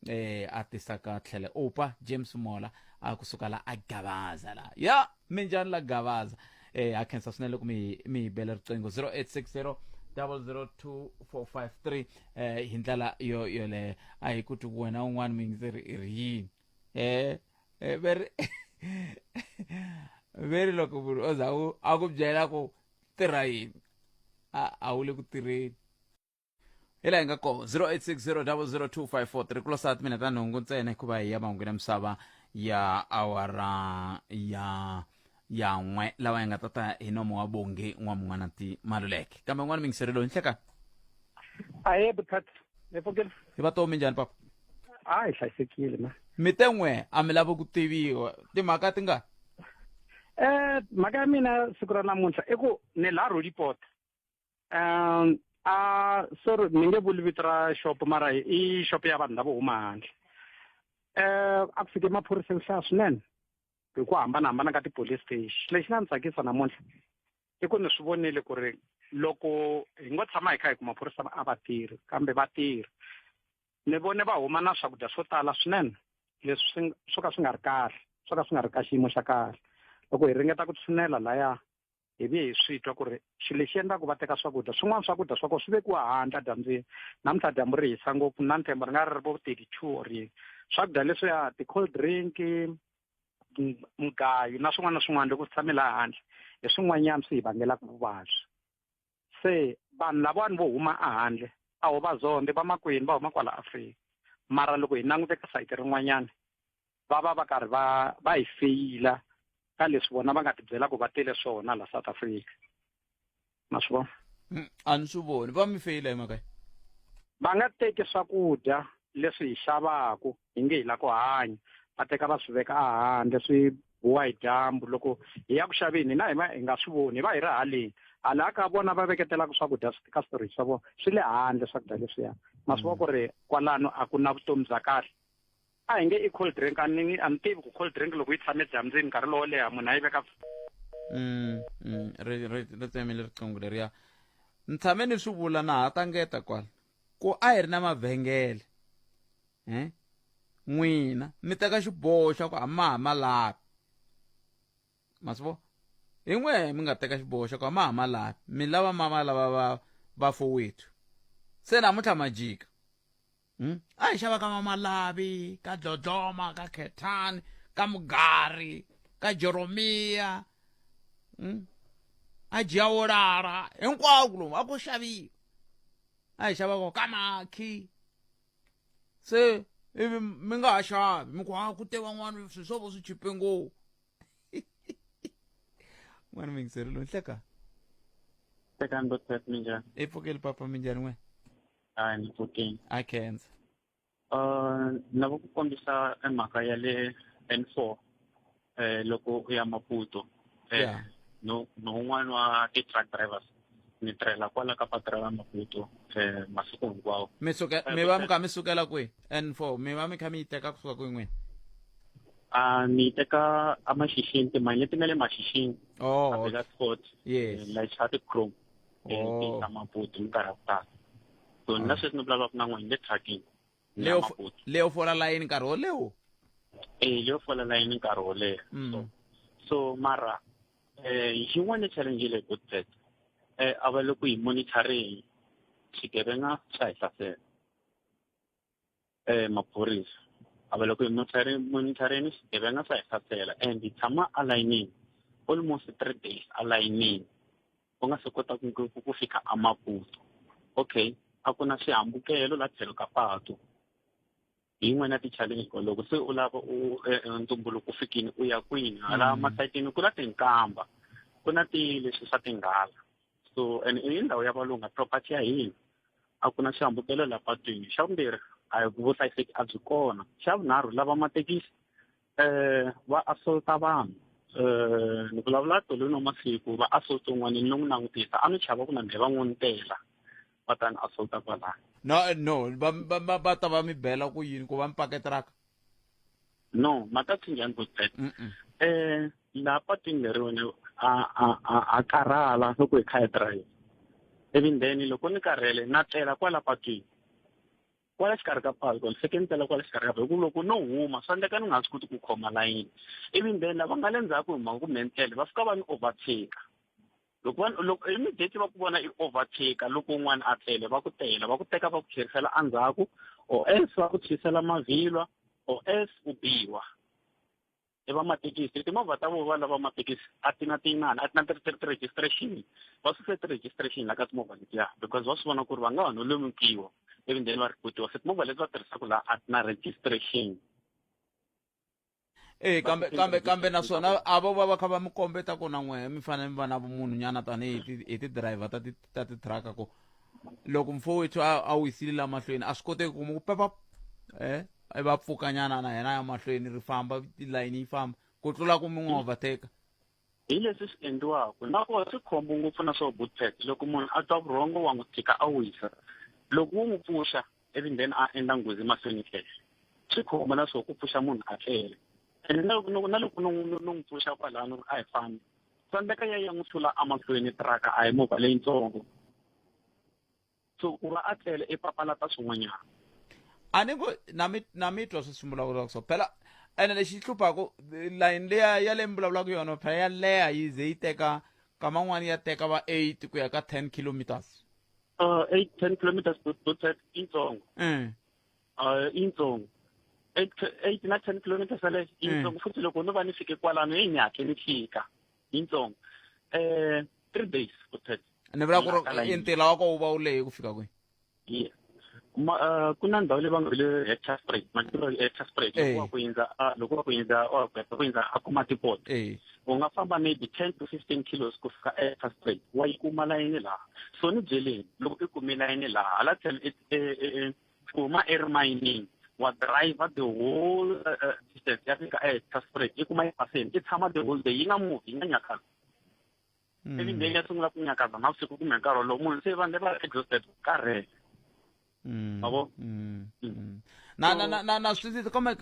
eh a tisa ka tlhele upa james mola a kusuka la a gabaza la ya yeah! minjani la gavaza eh ha khensa swinene loko mi mi hi bela riqingho 0860 002453 eh hi ndlela yo yoleyo a hi ku ti wena un'wana mi ndzi ri ri yini eh eh veri veri loko munhu o za u a ku byela ku tirha yini a a wu le ku tirheni hi laha hi nga koho 0860002543 ku losati mina ta nhungu ntsena hikuva hi ya mahungu na misava ya awara ya ya n'we lawa ya nga ta ta hi nomo wa bongi n'wa mun'wana ti maluleke kambe n'wana mingiserelo hi nhleka ahe buthati ni pfukile hi va tomi njhani papa a hi hlayisekile ma mi te n'we a mi lavi ku tiviwa timhaka ti nga eh mhaka ya mina siku ra namuntlha i ku ni la rolipoto um a sorry ni nge vuli vito ra shop mara i shop ya vanhu lavo huma handle um a ku fike maphorisa yo hlaya swinene hi ku hambanahambana ka ti-police station lexi nga ni tsakisa namuntlha i ku ni swi vonile ku ri loko hi ngo tshama hi kha hi ku maphorisa a va tirhi kambe va tirhi ni vone va huma na swakudya swo tala swinene leswi swo ka swi nga ri kahle swo ka swi nga ri ka xiyimo xa kahle loko hi ringeta ku tshinela laya hi vuye hi swi twa ku ri xilo lexi endlaku va teka swakudya swin'wana swakudya swa kona swi vekiwa handle dyambyini namuntlha dyambu ri hisa ngopfu na nthemba ri nga ri ri vo thirty two or yini swakudya leswiya ti-cold drink mugayo na swin'wana na swin'wana loko swi tshame laha handle hi swin'wanyana swi hi vangelaka vuvabyi se vanhu lavawani vo huma ahandle a ho vazonde va makwenu va huma kwala afrika mara loko hi langute ka sayiti rin'wanyana va va va karhi va va hi feyila ka leswi vona va nga tibyela ku va tele swona la south africa ma swi vona mm, a ni swi voni va mi feyila hi mhaka va nga teki swakudya leswi hi xavaku hi nge hi la ku hanya va teka va swi veka ahandle swi wa hi dyambu loko hi ya ku xaveni hina hi va hi nga swi voni hi va hi ri haleni hala ka vona va veketelaka swakudya ka storage swa vona swi le handle swakudya leswiya ma swi va ku ri kwalano a ku na vutomi bya kahle a hi nge i cold drink a ni a ni tivi ku cold drink loko yi tshame dyambyini nkarhi lowo leha munhu a yi veka mm, mm, ri tsemile riqingho leriya ni tshame ni swi vula na ha tangeta kwala ku a hi ri na mavhengele um n'wina mi teka xiboho xa ku a ma ha ma lavi ma swi vo hi n'we mi nga teka xiboho xa ku a ma ha ma lavi mi lava ma ma lava va va fowethu se namuntlha ma jika um a hi xava ka ma ma lavi ka dlodloma ka khethani ka mugari ka joromiya um a jiyawolara hinkwako lomu a ku xaviwa a hi xava ko ka makhi se ivi mi nga ha xavi mi ku ha ah, ku te van'wana swi swo vo swi chipe ngopfu n'wana mi yingiserile ni hleka hlekani botat mi njhani i pfukeli papa mi njhani n'we a ni pfukini a khensa Uh, ni lava ku kombisa e mhaka ya le n four um loko u ya maputo um yeah. no no un'wana wa ti-truck drivers ni tirhela kwala ka patu ra maputo um masiku hinkwawo mi suke eh, mi va mi kha mi sukela kwihi and four mi va mi kha mi yi teka kusuka kwihi n'wini a ni teka amashishini timali leti nga le mashishini oh, abeka sport yes. Eh, like chrome emitini ya maputi minkarhi ya ku tala so ni na sweswi ni vulavulaka na n'wina le trucking leyo fo- leyo fola layini nkarhi wo lewo e leyo fola layini nkarhi wo leha Mm. so so mara eh yin'wana challenge leyi good set eh a va le ku yi monitoring xigevenga xa hi hlasela eh maphorisa a va le ku monitoring monitoring xigevenga swa hi hlasela and hi tshama a layinini almost three days a layinini u nga se kota ku ku ku fika a maputo okay a ku na xihambukelo la tlhelo ka patu hi yin'wana ya ti-challenge ko loko se u lava u eh, eh, ntumbuluko u fikini u ya kwini hala Mm. masayitini ku na tinkamba ku na ti leswi swa tinghala so and i ndhawu ya valunga property ya hina a ku na xihambukelo la patwini xa vumbirhi a hi vuhlayiseki a byi kona xa vunharhu lava mathekisi um va assaulta vanhu um ni vulavula tolweni wa masiku va assaulta un'wana ni n'wi langutisa a ni chava ku na mhe va n'wi ntela va ta ni assaulta kwalaya no no va va va ta va mi bela ku yini ku va mi paketiraka no makathinjani ku tete um eh, laha patwini leriwene a karhala loko hi kha hi drive ivi then loko ni karhele na tlela kwala patwini kwala xikarhi ka patu ni fike ni tela kwala xikarhi ka patu hikuva loko no huma swa endleka ni nga swi koti ku khoma layini ivi then lava nga le ndzhaku hi mhaka ku me ni tlele va fika va ni overtake loko va loko immediately va ku vona i overtaker loko un'wana a tlele va ku tela va ku teka va ku tlherisela endzhaku or else va ku tshwisela mavhilwa or else u biwa i va mathekisi timovha ta vona va lava mathekisi a ti na tiyinani a ti na ti-registration va suse ti-registration la ka timovha letiya because va swi vona ku ri va nga ha no lemukiwa ivi then va rhipotiwa se timovha leti va tirhisaka laha a ti na registration e kambe kambe kambe naswona avo va va kha va mi kombeta ku na n'wehe mi fanele mi va na vumunhu nyana tanihi ti- hi ti-driver ta ti- ta titraka ku loko mfo wethu a a wisile la mahlweni a swi koteki ku mu pepa eh i va pfukanyana na yena ya mahlweni ri famba tilayini yi famba ku tlula ku mi n'wi overtake Hi leswi swi endliwaka na ku swi khombo ngopfu na swo bootpack loko munhu a twa vurhongo wa n'wi tshika a wisa loko wo n'wi pfuxa ivi then a endla nghozi mahlweni tlele swi khombo na swo ku pfuxa munhu a tlele ene na loko na loko no n'wi pfuxa kwalano a hi fambi tsandzeka ya ya n'wi hlula emahlweni tiraka a hi movha leyitsongo so ku va a tlele i papalata swin'wanyana a ni ku na mi na mi twa swi swi vulavulaka so phela ene lexi hluphaku layini leya ya leyi mi vulavulaka yona phela ya leha yi ze yi teka kama n'wana ya teka va eight ku ya ka ten kilometers uh, eight ten kilometers to to ten intsongo um uh, intsongo eight eight na ten kilometers yaleyo intsongo futhi loko no va ni fike kwalano heyi ni hatle ni fika yintsongo eh three days or ten ni vula ku ri ntila wa ko wu va wu lehe ku fika kwihi ye ma eh, ku na ndhawu leyi va nga hi le hector spray matilo hector spray loko eh. wa ku yindza ah, loko wa ku yindza wa ku heta ku yindza a kuma tipot eh. u nga famba maybe ten to fifteen kilos ku fika hector spray wa yi kuma layini laha so ni byeleni loko i kumi layini laha hala tlhelo kuma erimayinini wa driver the whole uh, uh, distance ya fika etasfrek yi kuma yi paseni yi tshama the whole day yi nga muvi yi nga nyakazi mm. ivi mbeni ya sungula ku nyakaza navusiku kumbe nkarhi wolowo munhu se vanhu leva exhausted karhele mm. mavo mm. na na na na na swi kombe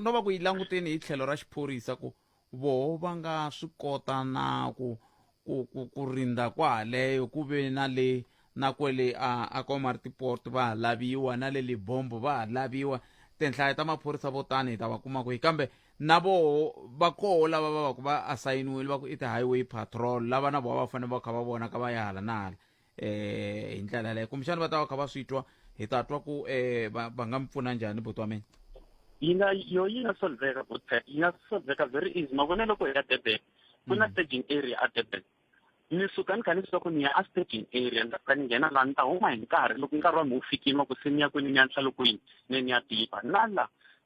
no va ku yi languteni hi tlhelo ra xiphorisa ku Voho va nga swi kota na ku, ku, ku, ku rindza kwahaleyo ku ve na le na kwele a, a Komatipoort va ha laviwa, na le Libombo va ha laviwa. Tinhlayo ta maphorisa vo tano hi ta va kuma kwihi? Kambe na voho va koho lava va vaku va asayiniwile va ku i ti-highway patrol, lava na voho a va fanele va kha va vonaka va ya hala na hala. eh hi ndlela yaleyo kumbexana va ta va kha va swi twa hi ta twa ku eh va va nga mi pfuna njhani buti wa mina yi nga yo yi nga solveka bootpack yi nga solveka very easy ma vona loko hi ya durban ku na staging area a durban ni suka ni kha ni swa ku ni ya a staging area ni ta fika ni nghena laha ni ta huma hi nkarhi loko nkarhi wa mi wu fikile wa ku se ni ya kwini ni ya nhlalo kwini ne ni ya tipa na la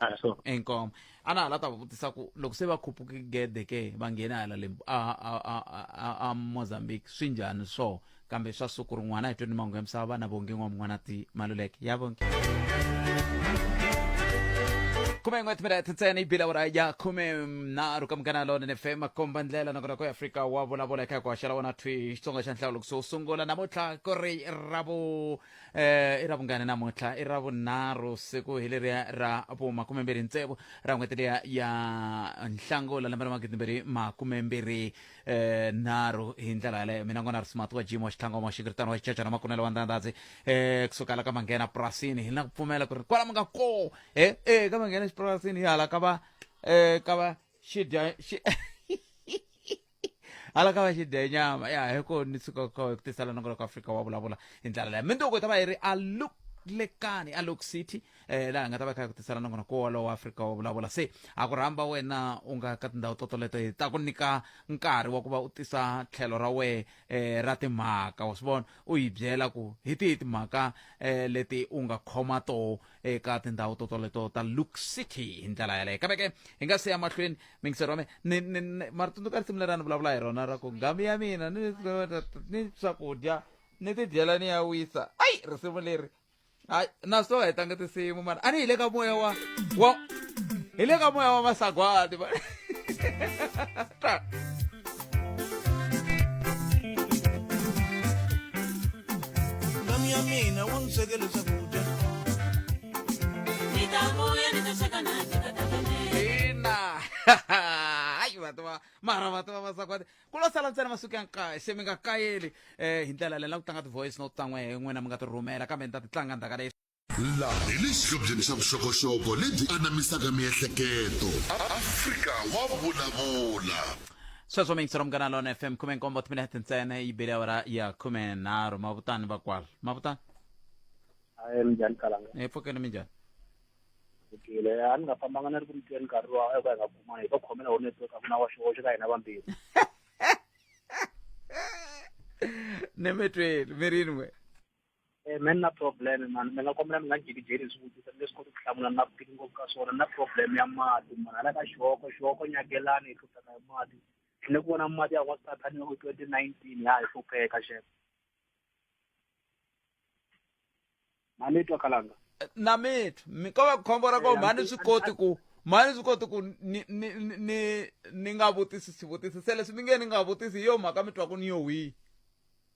a so enkomo a na ha la ta va vutisa ku loko se va khupuke gede ke va nghena hala lembu a, a, a, a, a mozambique swi njhani swo kambe swa siku rin'wana hi tweni mangu ya misava vana vonge n'wa mun'wana ti maluleke ya vonge khume n'we timinete ntsena ibila ura ya khume nharhu ka munghana lonene fm komba ndlela nakona ku afrika wa vulavula eka hi ku haxela wona thwi xitsonga xa nhlawulo kusuhi sungula namuntlha ku ri ravo eh i ra vungani namuntlha i ra vunharhu siku hi leriya ra vo makumembirhi ntsevu ra n'hweti liya ya nhlangula lembe ra magidimbirhi makumembirhi eh nharhu hi ndlela yaleyo mina n'wana rismart wa jim wa xitlhangoma wa xinkiritano wa xichacha na makunelo wa ndandadzi eh kusuka la ka manghena purasini hi na ku pfumela ku ri kwala mi nga ko eh eh ka manghena xipurasini hi hala ka va eh ka va xidya xi hala ka va xidenyama ya hi ko ni suka ku tisala nongonoko afrika wa vulavula hi ndlela leya mindoko ta va yi ri a look lekani a lok city eh laha nga ta va kha ku tisela nongona ko walowo afrika wo vulavula se a ku rhamba wena u nga ka tindhawu to toleto hi ta ku nyika nkarhi wa ku va u tisa tlhelo ra wehe eh ra timhaka wa swi vona u yi byela ku hi tihi timhaka eh leti u nga khoma toho eka tindhawu to toleto ta luk city hi ndlela yaleyo kambe ke hi nga siya mahlweni mingisero wa mina mari tsundzuka risimu leri a ni vulavula hi rona ra ku ngamu ya mina ni swakudya ni tidyela ni ya wisa ayi risimu leri hayi na so hi tanga tinsimu mara a ni hi le ka moya wa wa hi le ka moya wa masagwati った。Nami ya mina wo ni swekele swakudya. Ndzi ta vuya ndzi ta sweka na ndzi ta tabelela. ina hayi vati va mara vati va vasakwati ku lo sala ntsena masiku ya nkaye se mi nga kayeli um hi ndlela leyi la ku tlanga ti-voice note ta n'we hi n'wina mi nga ti rhumela kambe ni ta ti tlanga ndzhaka leyi Laha hi le xihlobyeni xa vuxokoxoko lebyi anamisaka miehleketo. Afrika wa vulavula. Sweswo mixo munghana lona FM khume nkombo timinete ntsena yi bile awara ya khume nharhu mavutani vakwala mavutani hayi minjhani kalanga hi pfukeni minjhani fikile a ni nga fambanga ni ri ku mi tweni nkarhi lowa a hi ku hi nga kumani hi to khomela wo network a ku na wa xihoxo ka hina vambirhi ni mi tweli mi rini we Eh, me ni na problem mani mi nga kombela mi nga ndzi jikijeli hi swivutiso ni nge swi koti ku hlamula ni na vutivi ngopfu ka swona ni na problem ya mati mani hala ka xihoko xihoko nyakelani hi hlupheka hi mati ni le ku vona mati ya wansati ni loko twenty nineteen ya hi hlupheka xef mani twa kalanga Eh, na mithu mi ko va khombo ra ko Eh, mhani mi- swi koti ku mhani swi koti ku ni ni ni- ni ni nga vutisi swivutisi se leswi mi nge ni nga vutisi hi yo mhaka mi twa ku ni yo wihi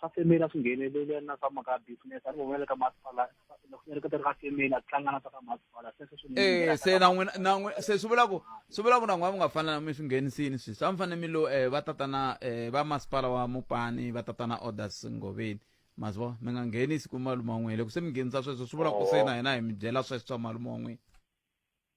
swa femela swi nghenelele na swa mhaka ya business a ni vonela ka masipala loko ni ri ka ti ri ka femela ku tlanga na swa ka masipala sweswo swi e se na n'wina na n'wina se swi vula ku swi vula ku na n'wina mi nga fanela mi swi nghenisini sweswi a mi fanele mi lo um va tatana um va masipala wa mupani va tatana orders ngoveni ma swi vona mi nga nghenisi ku malume wa n'wina loko se mi nghenisa sweswo swi vula ku se na hina hi mi byela sweswo swa malume wa n'wina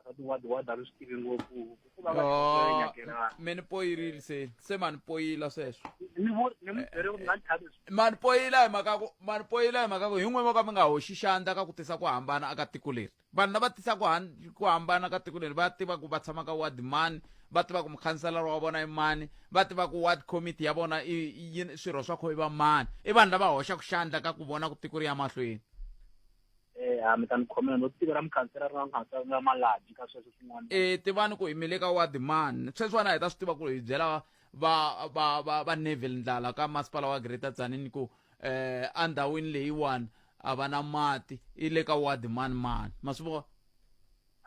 asati wa wa dalu swi tivi ngopfu hikuva va Yo, nyakelana me ni poyirile se se ma ni poyila sweswo ni vu ni mu byere ku nga ni thabi ma ni poyila hi mhaka ku ma ni poyila hi mhaka ku hi n'we vo ka mi nga hoxi xandla ka ku tisa ku hambana aka tiko leri vanhu lava tisa ku han- ku hambana ka tiko leri va tiva ku va tshama ka ward mani va tiva ku mukhanselara wa vona i mani va tiva ku ward committee ya vona i i yini swirho swa kho i va mani i vanhu lava hoxaka xandla ka ku vona ku tiko ri ya mahlweni Eh, ha mi ta ni khomela no tiva ra mukhansela ri nga mukhansela ri nga malaji ka sweswo swin'wana e tivani ku hi mile ka ward man sweswiwana hi ta swi tiva ku hi byela va va va va neville ndlala ka masipala wa greater tsanini ku eh endhawini leyiwani a va na mati i le ka ward man man ma swi vona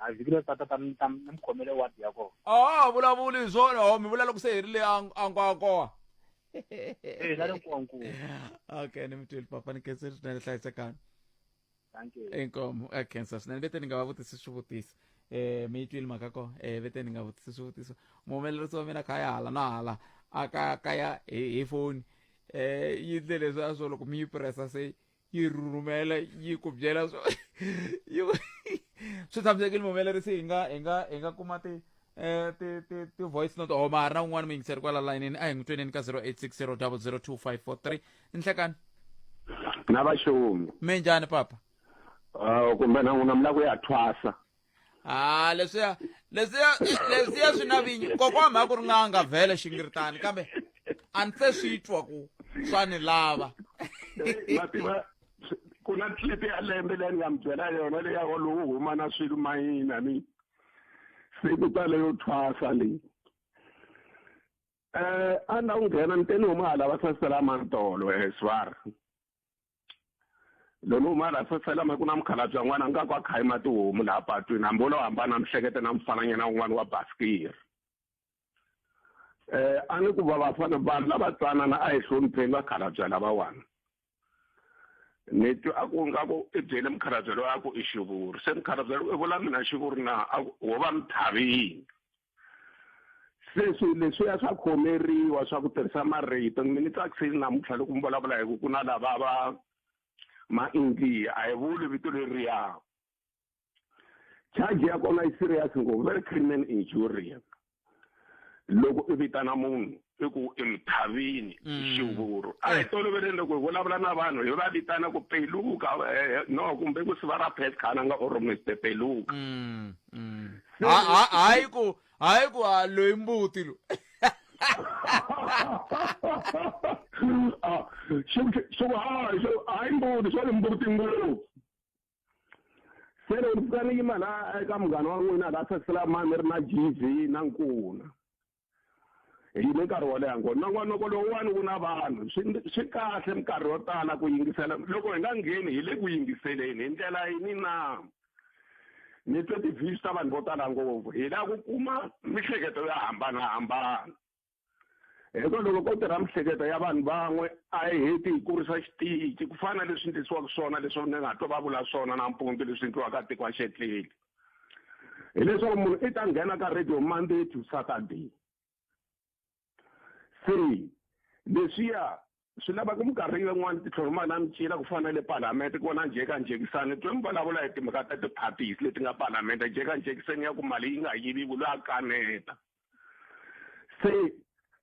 a vhiki leri tata ta mi ta mi khomele ward ya kona a ha vulavuli hi swona ho mi vula loko se hi ri le ankwako Eh, la le nkonku. okay ni mutweli papa ni khensa swinene hlayisekani Thank you. inkomo a khensa swinene vete ni nga va vutisi swivutiso um mi yi twile mhaka ko um vete ni nga vutisi swivutiso muhumelerisi wa mina kha ya hala na hala a ka kaya hi hi foni um yi ndle leswi a swo loko mi yi pressa se yi rhumela yi ku byela swo yi ku swi tshamisekile muhumelerisi hi nga hi nga hi nga kuma ti eh ti ti ti voice note or mahari na un'wana muyingiseri kwala layinini a hi n'wi tweneni ka 0860002543 nhlekani na vaxongi minjhani papa uh, kumbe na n'wina mi lava ku ya thwasa ha leswiya leswiya leswiya swi na vinyi kokwa mhaka ku ri n'anga vhele xingiritani kambe a ni se swi twa ku swa ni lava mativa ku na clip ya lembe leyi ni nga mi byela yona leyi yako lowu huma na swilo mayina ni se ku ta leyo thwasa leyi um a ni la ku nghena ni te ni huma hala va sasela mantolo eswar loyi ni huma laha fefelama ku na mukhalabye n'wana nga ku a khayima tihomu laha patwini hambi wolowo hambana mihlekete na mfananyana wun'wana wa basikiri um a ni ku va vafana vanhu lava tsanana a hi hlonipheni vakhalabya lavawani ni twe a ku nga ku i byele mukhalabya loyi a ku i xivuri se mukhalabya loyi i vula mina xivuri na a ku wo va mi tlhavini sweswi leswiya swa khomeriwa swa ku tirhisa marito mi ni tsakisile namuntlha loko mi vulavula hi ku ku na lava va ma-india a hi vuli vito leriya charge ya kona yi serious ngopfu very criminal injurious loko i vitana munhu i ku i muthavini mm. xivuru a hi eh. toloveleni loko hi vulavula na vanhu hi va vitana ku peluka eh, eh, no kumbe ku siva ra pet khana nga or mister peluka mm, mm. hayi ku hayi ku a loyi mbuti lo ah, xo hayi xo hayi mbuti xo mbuti ngopfu se loko ni fanele yima la eka munghana wa n'wina la sasela mani mi ri na gv na nkuna hi yime nkarhi wo leha ngo nongonoko lowuwani wu na vanhu swi kahle minkarhi yo tala ku yingisela loko hi nga ngheni hi le ku yingiseleni hi ndlela yini na ni twe ti-views ta vanhu vo tala ngopfu hi lava ku kuma mihleketo yo hambanahambana hikuva loko ko tirha mihleketo ya vanhu van'we a yi heti hi kurisa xitici ku fana na leswi ndlisiwaka swona leswi ni nga to va vula swona nampundzu leswi ndliwaka tiko a xetleli hileswaku munhu i ta nghena ka radio monday to saturday se leswiya swi lava ku minkarhi yin'wana titlhoromaka na micina ku fana le palamende ku vona njhekanjhekisani twe mi vulavula hi timhaka ta ti-parties leti nga palamende njhekanjhekisani ya ku mali yi nga yiviwi loyi a kaneta se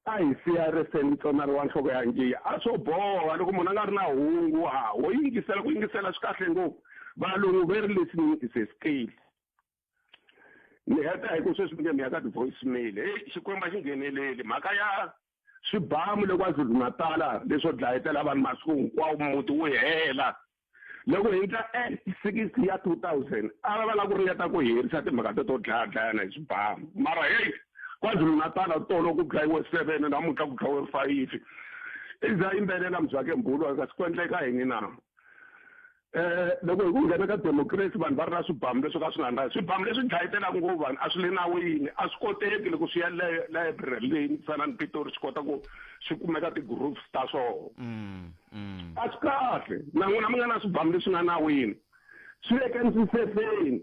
a hi siya reseni tsonari wa nhloko ya njiya a swo boha loko munhu a nga ri na hungu ha ho yingisela ku yingisela swi kahle ngopfu valungu very listening is a skill ni heta hi ku sweswi mi nge mi ya ka ti-voice mail heyi xikwembu a xi ngheneleli mhaka ya swibamu le KwaZulu-Natal leswo dlayetela vanhu masiku hinkwawo muti wu hela loko hi ndla act six ya two thousand a va va lava ku ringeta ku herisa timhaka to to dlaya dlayana hi swibamu mara heyi kwazulu-natala tolo ku dlayiwe seven namuntlha ku dlayiwe fayifi i za yimbelela muzake mbhulu kasi ku endleka yini na Eh, loko hi ku nghena ka democracy vanhu va ri na swibamu leswi ka swi nga ndhazi swibamu leswi dlayetelaka ngopfu vanhu a swi le nawini a swi koteki loko swi ya library leyi ni fana ni pitori swi kota ku swi kumeka ti-groups ta swona mm, mm. a swi kahle na n'wina mi nga na swibamu leswi nga nawini swi le ka ndzisefeni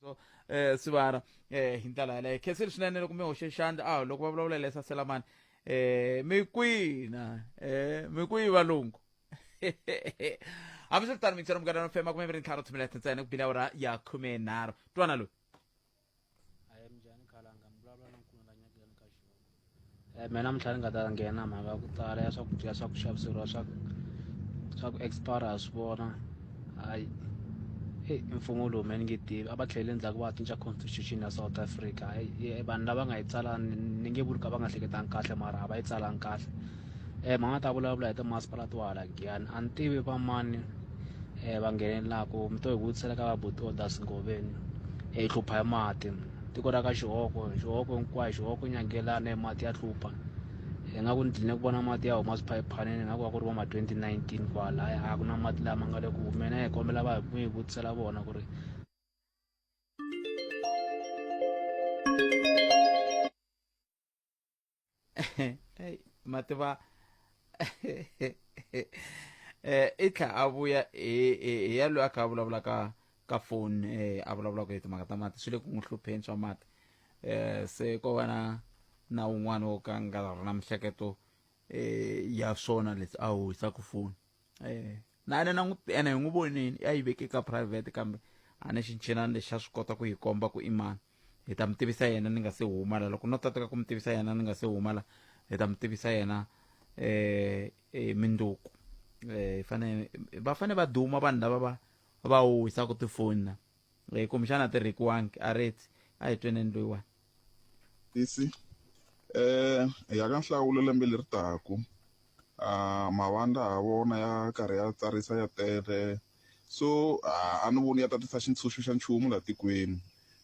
so eh sibara eh hindlela yaleyo khesile swinene loko mi hoxe xandla a loko va vulavula lesa selamani eh mi kwina eh mi kwi valungu hambi swi ri tano mixero munghana fema kume mi ri ntlhanu tshimelete ntsena ku bile awara ya khume nharhu twana loyi Eh, mina mintlha ni nga ta nghena mhaka ku tala ya swakudya swa ku xaviseriwa swa swa ku expire ha swi vona hayi heyi i mfumo lowu me ni nge tivi a va tlheleli ndzhaku va cinca constitution ya south africa hayi vanhu lava nga yi tsala ni nge vuli ka va nga hleketanga kahle mara a va yi tsalanga kahle eh mhani a ta vulavula hi timasipala to hala giyani a ni tivi va mani eh va nghenelelaka mi to hi vutisela ka vabuti odas ngoveni eh, hi hlupha hi mati tiko ra ka xihoko xihoko hinkwayo xihoko nyangelana mati ya hlupha hi nga ku ni dline ku vona mati ya huma swiphayiphanini nga ku va ku ri va ma 2019 kwala a ku na mati lama nga le ku humeni hi kombela va hi vutisela vona ku ri mativa eh i tlha a vuya hi ya loyi a kha a vulavula ka ka foni eh a vulavulaka hi timhaka ta mati swi le ku n'wi hlupheni swa mati eh se ko va na na un'wana wo ka nga ri na mihleketo eh ya swona leswi a wisaka foni eh, na yena na n'wi ene hi n'wi voneni ya yi veke ka private kambe a ni xinchinani lexi a swi kota ku yi komba ku i mani hi ta mi tivisa yena ni nga se huma la loko no tateka ku mi tivisa yena ni nga se huma la hi ta mi tivisa yena eh, eh minduku eh fane va fane va duma vanhu lava va va wisa ku tifoni na eh kumbexana ti rekiwangi a reti a hi tweneni loyiwani tisi eh hi ya ka nhlawulo lembe leri taka a mavandla ha vona ya karhi ya tsarisa ya tele so a ni voni ya ta tisa xintshunxo xa nchumu laha tikweni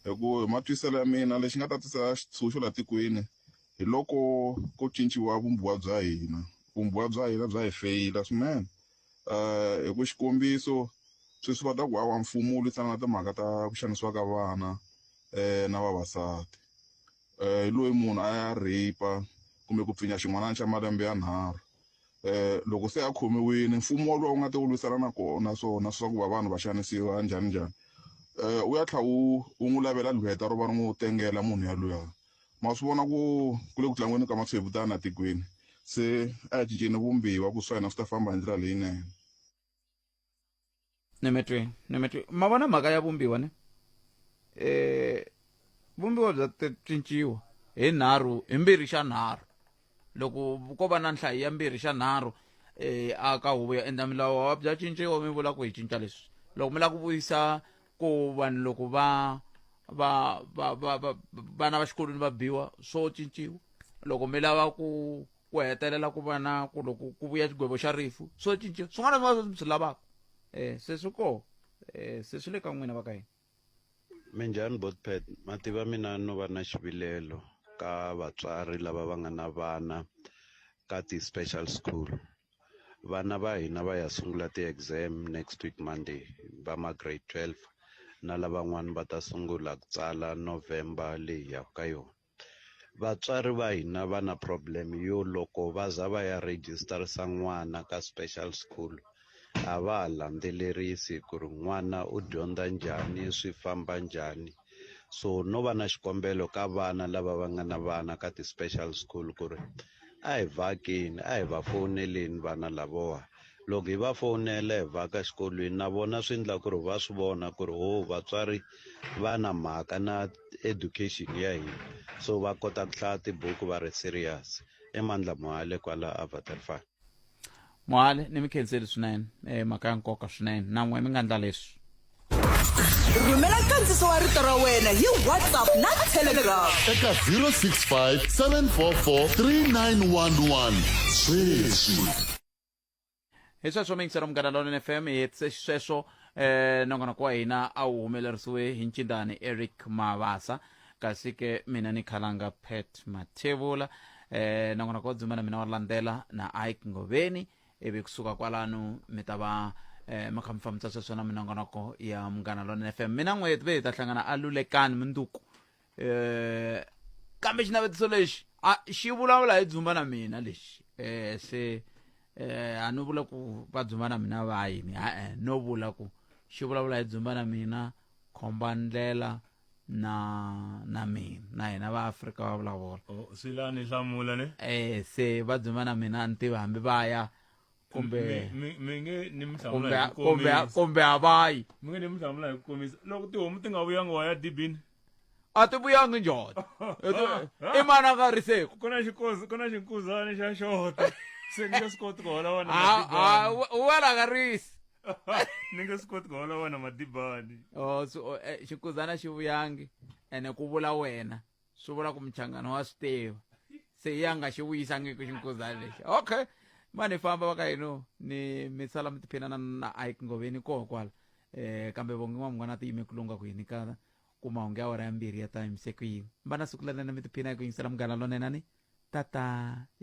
hi ku hi matwiselo ya mina lexi nga ta tisa xitshunxo laha tikweni hi loko ko cinciwa vumbiwa bya hina vumbiwa bya hina bya hi feyila swinene. um hi ku xikombiso sweswi va ta ku hawa mfumo wu lwisana na timhaka ta ku xanisiwa ka vana um na vavasati um hi loyi munhu a ya rape kumbe ku pfinya xin'wanana xa malembe ya nharhu um loko se a khomiwile mfumo wolowo wu nga ta wu lwisana na kona swona swa ku va vanhu va xanisiwa njhani njhani um wu ya tlha wu wu n'wi lavela lweta ro va ri n'wi tengela munhu yalweyo. ma swi vona ku ku le ku tlangweni ka matshwevutana tikweni se a hi cinceni vumbiwa ku swa hina swi ta famba hi ndlela leyinene ni mi twi ni mi twi ma vona mhaka ya vumbiwa ne um vumbiwa bya cinciwa hi nharhu hi mbirhi xa nharhu loko ko va na nhlayo ya mbirhi xa nharhu um a ka huvo yo endla milawu bya cinciwa mi vula ku hi cinca leswi loko mi lava ku vuyisa ku vanhu loko va va va va va vana va xikolweni va biwa swo cinciwa loko mi lava ku ku hetelela ku va na ku loko ku vuya xigwevo xa rifu swo cinciwa swin'wana na swin'wana mi swi lavaka um se swi koho um se swi le ka n'wina va ka hina minjhani botpad mativa mina no va na xivilelo ka vatswari lava va nga na vana ka ti-special school vana va hina va ya sungula ti-exam next week monday va ma grade 12 na lavan'wani va ta sungula ku tsala november leyi yaka ka yona vatswari va hina va na problem yo loko va za va ya registerisa n'wana ka special school a va ha landzelerisi ku ri n'wana u dyondza njhani swi famba njhani so no va na xikombelo ka vana lava va nga na vana ka ti-special school ku ri a hi vakeni a hi va fowuneleni vana lavowa loko hi va fowunela hi vaka xikolweni na vona swi endla ku ri va swi vona ku ri ho vatswari va na mhaka na education ya hina so va kota ku hlaya tibuku va ri serious emandla mohale kwala avatar farm mohale ni mi khenseli swinene eh, mhaka ya nkoka swinene na n'we mi nga ndla leswi rhumela nkandziso wa rito ra wena hi whatsapp na telegram eka 065 744 3911 sweswi hi sweswo mingisero munghana lonene fm hi hetise xisweswo um nongonoko wa hina a wu humelerisiwe hi ncindani eric mavasa kasi ke mina ni khalanga pet mathevula eh na n'wina ko dzuma na mina wa landzela na ike ngoveni ivi kusuka kwalano mi ta va eh mi kha mi fambisa sweswo na minongonoko ya munghana lona fm mina n'weti ve hi ta hlangana a lulekani munduku eh kambe xinavetiso lexi a xi vulavula hi dzumba na mina lexi eh se eh a no vula ku va dzumba na mina va yini ha-e no vula ku xi vulavula hi dzumba na mina khomba ndlela na na mina na hina va Afrika va vulavula oh swi la ni hlamula ne eh se va dzima na mina ni tiva hambi va ya kumbe mi nge ni mihlamula hi kumbe kumbe avayi mi nge ni mihlamula hi ku komisa loko tihomu ti nga vuyanga wa ya dibini a ti vuyangi njhota i mana ka riseko ku na xikozi ku na xinkuzana xa xota se ni nge swi koti ku hola wena wena ka risi ni nge swi koti ku hola wena madibani o oh, so eh, xikuzana xi vuyangi ene ku vula wena swi vula ku muchangana wa swi tiva se ya nga xi vuyisangiki xinkuzana lexi okay ma ni famba va ka hino ni mi sala mi tiphinana na ike ngoveni koho kwala um kambe vongi n'wa mun'wana a ti yime ku lunga ku yini ka ku mahungu ya wara ya mbirhi ya ta yimise ku yini va na siku lanene mi tiphina hi ku yingisela munghana lonenani tata ya